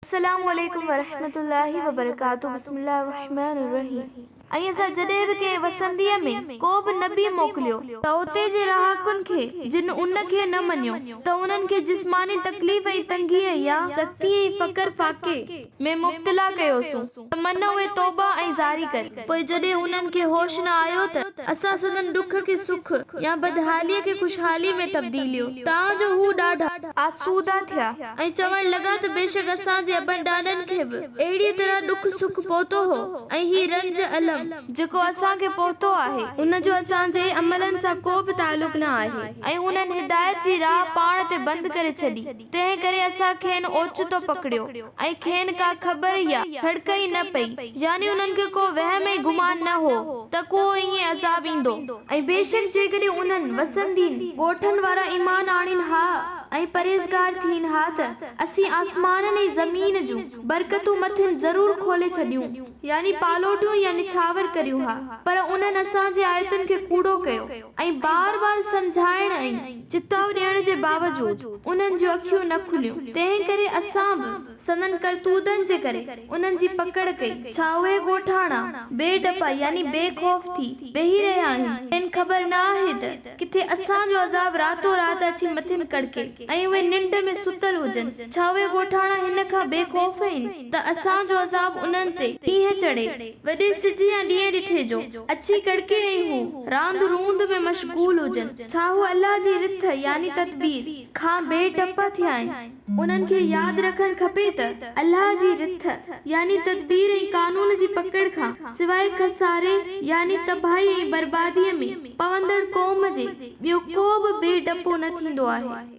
السلام عليڪم ورحمة الله وبرڪاته بسم الله الرحمٰن الرحيم ۽ اسان جڏهن به ڪنهن وسنديء ۾ ڪو به نبي موڪليو ته اتي جي رهاڪن کي جن ان کي نه مڃيو ته انهن کي جسماني تڪليف ۽ تنگيء يا سختيء ۽ فقر فاقي ۾ مبتلا ڪيوسون. تمنا اهي توبا ۽ زاري ڪري. پوء جڏهن انهن کي هوش نه آيو ته اسان سندن ڏک کي سک يا بدحاليء کي خوشحاليء ۾ تبديليو تان جو هو ڏاڍا. آسودا ٿيا ۽ چوڻ لڳا ته بيشڪ اسان جي ابن ڏاڏن کي به اهڙيء طرح ڏک سک پهتو هو ۽ هي رنج الم. جيڪو اسان کي پهتو آهي ان جو اسان جي عملن سان ڪو به تعلق نه آهي ۽ انهن هدايت جي راهه پاڻ تي بند ڪري ڇڏي. تنهن ڪري اسان کين اوچتو پڪڙيو ۽ کين ڪا خبر يا ڇڙڪ ئي نه پئي، يعني انهن کي ڪو وهم ۽ گمان نه هو ته ڪو ائين عذاب ايندو ۽ بيشڪ جيڪڏهن انهن وسندين ڳوٺن وارا ايمان آڻين ها ۽ پرهيزگار ٿين ها ته اسين آسمانن ۽ زمين جون برڪتون مٿن ضرور کولي ڇڏيون، يعني پالوڏيون يا نڇاور ڪريون ها، پر انهن اسان جي آيتن کي ڪوڙو ڪيو ۽ بار بار سمجهائڻ ۽. چتاء ڏيڻ جي باوجود انهن جون اکيون نه کليون، تنهن ڪري اسان به سندن ڪرتوتن جي ڪري انهن جي پڪڙ ڪئي. ڇا اهي ڳوٺاڻا بي ڊپا يعني بي خوف ٿي ويهي رهيا آهن؟ کين خبر نه آهي ته ڪٿي اسان جو عذاب راتو رات اچي مٿن ڪڙڪي ۽ اهي ننڊ ۾ ستل هجن؟ ڇا اهي ڳوٺاڻا هن کان بي خوف آهن ته اسان جو عذاب انهن تي ڪيئن چڙهي؟ وڏي سج يا ڏينهن ڏٺي جو، اڇي ڪڙڪي ۽ هو، راند روند ۾ مشغول هجن، ڇا هو الله جي رٿ، يعني تدبير، کان بي ڊپ ٿيا آهن؟ انهن کي ياد رکڻ کپي ته، الله جي رٿ، يعني تدبير ۽ قانون جي پڪڙ کان سواء خساري، يعني تباهي ۽ برباديء ۾ پوندڙ قوم جي، ٻيو ڪو به بي ڊپو نه ٿيندو آهي.